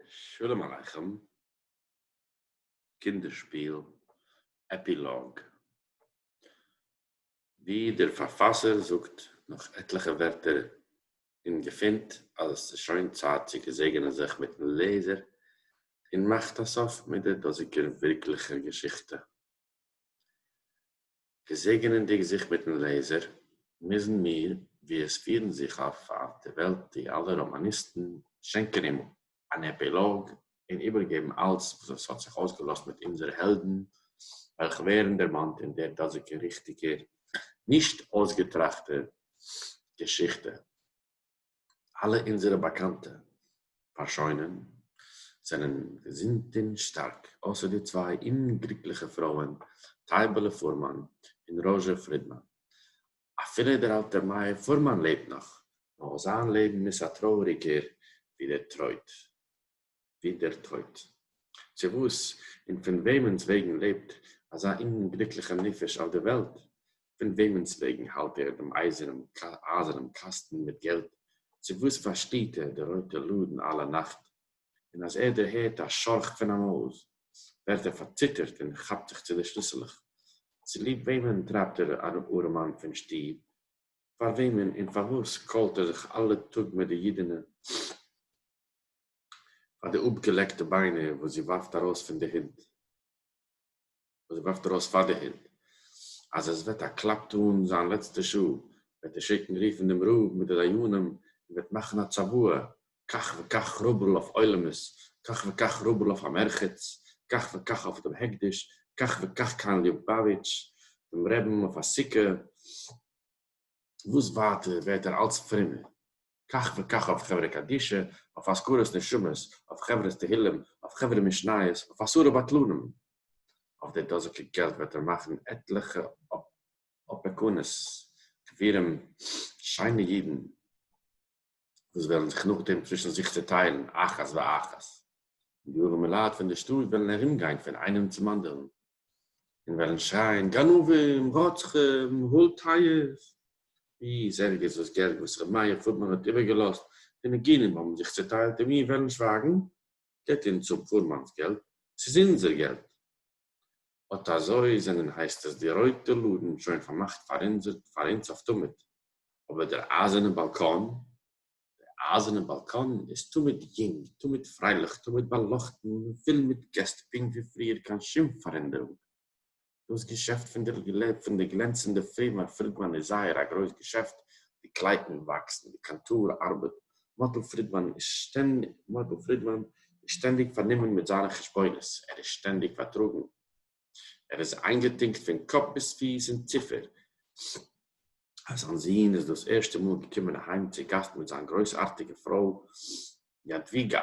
שלום עליכם, קינדער שפיל, עפילאג, ווי דער פארפאסער זאגט נאך עטליכע ווערטער און געפינט אז עס איז שוין צייט צו געזעגענען זיך מיטן לעזער און מאכט א סוף מיט דער דאזיגער ווירקליכער געשיכטע. געזעגענענדיג זיך מיטן לעזער, מוזן מיר, ווי עס פירן זיך אויף אויף די וועלט די אלע ראמאניסטן, שענקען אים אן עפילאג און איבערגעבן אלץ וואס עס האט זיך אויסגעלאזט מיט אונזערע העלדן וועלכע ווערן דערמאנט אין דער דאזיגער ריכטיגער נישט אויסגעטראכטער געשיכטע. אלע אונזערע באקאנטע פארשוינען זענען געזונט און שטארק, אויסער די צוויי אומגליקליכע פרויען טייבעלע פורמאן און ראזשע פרידמאן. אפילו דער אלטער מאיר פורמאן לעבט נאך, נאר זיין לעבן איז א טרויעריגער ווי דער טרויט. ווי דער טויט. צו וואס און פון וועמענס וועגן לעבט אזא אומגליקליכער נפש אויף דער וועלט? פון וועמענס וועגן האלט ער דעם אייזערנעם קאסטן מיט געלט? צו וואס פארשטייט ער די רויטע לאדן אלע נאכט, און אז ער דערהערט א שארך פון א מויז ווערט ער פארציטערט און כאפט זיך צו די שליסלעך? צוליב וועמען טרייבט ער אן ארעמאן פון שטוב? פאר וועמען און פארוואס קוילט ער זיך אלע טאג מיט די אידענע? פאר די אפגעלעקטע ביינער וואס זי ווארפט ארויס פון די הונט, וואס זי ווארפט ארויס פאר די הונט, אז עס וועט א קלאפ טאן זיין לעצטע שעה, וועט ער שיקן רופן דעם רב מיט די דיינים און וועט מאכן א צוואה, כך וכך רובל אויף עולמות, כך וכך רובל אויף המרחץ, כך וכך אויף דעם הקדש, כך וכך קיין ליובאוויטש, דעם רעבין אויף א סוכה, וואס ווייטער ווערט ער אלץ פרומער, כך וכך אויף חברה קדישא, אויף אזכרת נשמות, אויף חברת תהילים, אויף חברה משניות, אויף עשרה בטלנים. אויף די דאזיגע געלט וועט ער מאכן עטליכע אפעקונס, גבירים, שיינע אידן, וואס וועלן זיך נאכדעם צווישן זיך צעטיילן אחת ואחת, און די ארעמעלייט פון די שטאט וועלן ארומגיין פון איינעם צום אנדערן און וועלן שרייען גנבים, רוצחים, הול טייערס, ווי זעלגערס וואס געלט וואס ר' מאיר פאדמאן האט איבערגעלאזט פון נגינים האבן זיך צוטיילט און מיר וועלן שווייגן, געט אונז אפ פאדמאן'ס געלט, ס'איז אונזער געלט. אט אזוי זענען הייסט עס די רויטע לאדן שוין פארמאכט פאר אונז אויף תמיד, אבער דער אייזערנע באלקאן? דער אײַזערנער באַלקאָן איז תּמיד יונג, תּמיד פֿרײלעך, תּמיד באַלאָכטן און פֿול מיט געסט, פּונקט ווי פֿריִער, קיין שום פֿאַרענדערונג. דאָס געשעפֿט פֿון דער פֿון דער גלענצנדער פֿירמע פֿרידמאַן איז זייער אַ גרויס געשעפֿט. די קלייטן וואַקסן, די קאַנטאָר אַרבעט, מאָטל פֿרידמאַן איז שטענ מאָטל פֿרידמאַן איז שטענדיק פֿאַרנומען מיט זײַנע חשבונות, ער איז שטענדיק פֿאַרטראָגן. ער איז איינגעטונקט פון קאפ ביז פיס אין ציפער אז זיין זון איז דאס ערשטע מאל געקומען אהיים צו גאסט מיט זיין גרויסארטיגע פרוי יאדוויגא,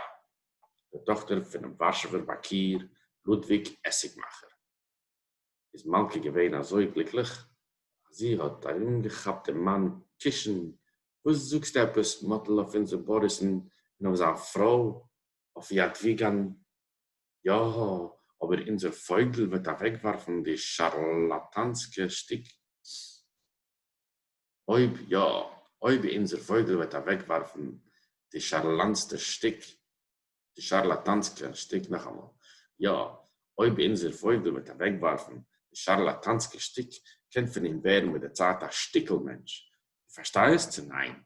די טאכטער פונעם ווארשעווער באנקיר לודוויג עסיגמאכער. איז מלכה געווען אזוי גליקליך אז זי האט ארומגעכאפט דעם מאן קישן, וואס זאגסטו עפעס מאטל אויף אונזער באריסן און אויף זיין פרוי, אויף יאדוויגא'ן? יא, אבער אונזער פויגל וועט אוועקווארפן די שארלאטאנסקע שטיק. אויב יא, אויב אונזער פויגל וועט אוועקווארפן די שארלאנסטע שטיק, די שארלאטאנסקע שטיק, נאכאמאל, יא, אויב אונזער פויגל וועט אוועקווארפן די שארלאטאנסקע שטיק, קען פון אים ווערן מיט די צייט א שטיקל מענטש. דו פארשטייסט צו ניין?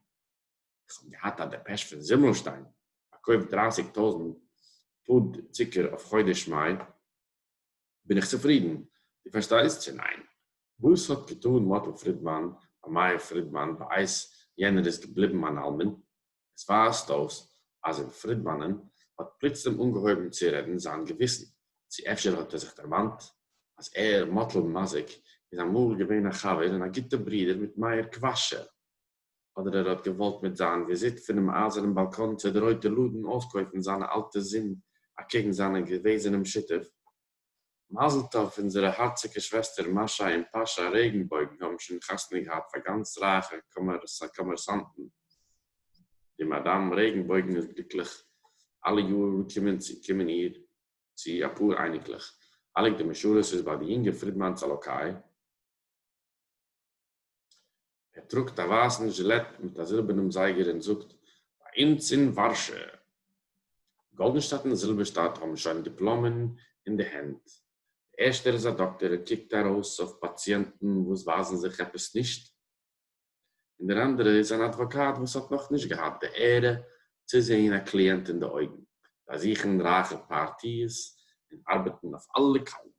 איך האב געהאט א דעפעש פון זימלשטיין פארקויפט דרייסיג טויזנט פוד צוקער אויף חודש מאי, בין איך צופרידן, דו פארשטייסט צו ניין? וואס האט געטאן מאטל פרידמאן ביי מאיר פרידמאן בעת יענער איז געבליבן אן אלמן? עס ווייזט אויס אז אין פרידמאנ'ען האט פלוצלום אנגעהויבן צו רעדן זיין געוויסן, צו אפשר האט ער זיך דערמאנט אז ער, מאטל מזיק, איז אמאל געווען א חבר און א גוטע ברודער מיט מאיר קוואשער. אדער ער האט געוואלט מיט זיין וויזיט פונעם אייזערן באלקאן צו די רויטע לאדן אויסקויפן זיינע אלטע זון אקעגן זיינע געוועזענעם שותף. מזל טוב אונזערע הארציגע שוועסטער מאשא און פאשא רעגנבויגן האבן שוין חתונה געהאט פאר גאנץ רייכע קאמערסאנטן. די מאדאם רעגנבויגן איז גליקליך אלע יאר קומען צו קומען איר צו אפאר אייניקלעך. חלק די משרת איז ביי די יונגע פרידמאנס אלאקאי. ער טראגט א ווייסן זשילעט מיט א זילבערנעם זייגער און זאגט, ביי אונז אין ווארשע, גאלדענשטאט און זילבערשטאט האבן שוין דיפלאמען אין די הענט. דער ערשטער איז א דאקטער און קוקט ארויס אויף פאציענטן וואס ווייזן זיך עפעס נישט, און דער אנדערע איז אן אדוואקאט וואס האט נאך נישט געהאט די עהרע צו זעהן א קליענט אין די אויגן, באזוכן רייכע פארטיעס און ארבעטן אויף אלע קווים.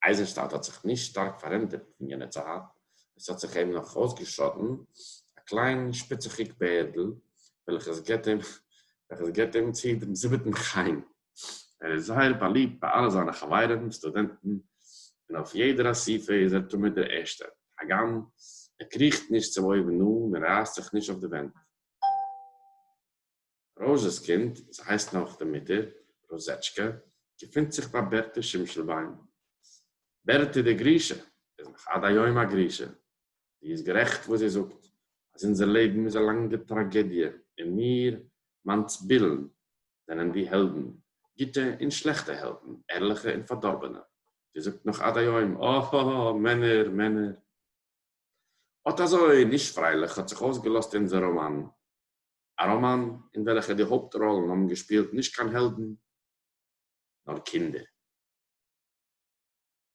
אייזנשטאט האט זיך נישט שטארק פארענדערט פון יענע צייט, עס האט זיך אים נאך אויסגעשאטן א קליין שפיציכיג בערדל וועלכעס געט אים וועלכעס געט אים צו דעם זיבעטן חן. ער איז זייער באליבט ביי אלע זיינע חברים סטודענטן און אויף יעדער אסיפה איז ער תמיד דער ערשטער, הגם ער קריכט נישט צום אויבן אן און רייסט זיך נישט אויף די ווענט. ראָזשעס קינד, זי הײסט נאָך די מוטער, ראָזעטשקע, געפֿינט זיך בײַ בערטע שימשלבוימס. בערטע די גרישע איז נאָך עד-היום אַ גרישע. זי איז גערעכט, װאָס זי זאָגט, אַז אונדזער לעבן איז אַ לאַנגע טראַגעדיע און מיר, מאַנצבילן, זענען די העלדן, גוטע און שלעכטע העלדן, ערלעכע און פֿאַרדאָרבענע. זי זאָגט נאָך עד-היום, אָ-האָ-האָ, מענער, מענער! אָט אַזױ נישט פֿרײלעך האָט זיך אױסגעלאָזט אונדזער ראָמאַן. א ראמאן אין וועלכע די הויפט ראלן האבן געשפילט נישט קיין העלדן נאר קינדער.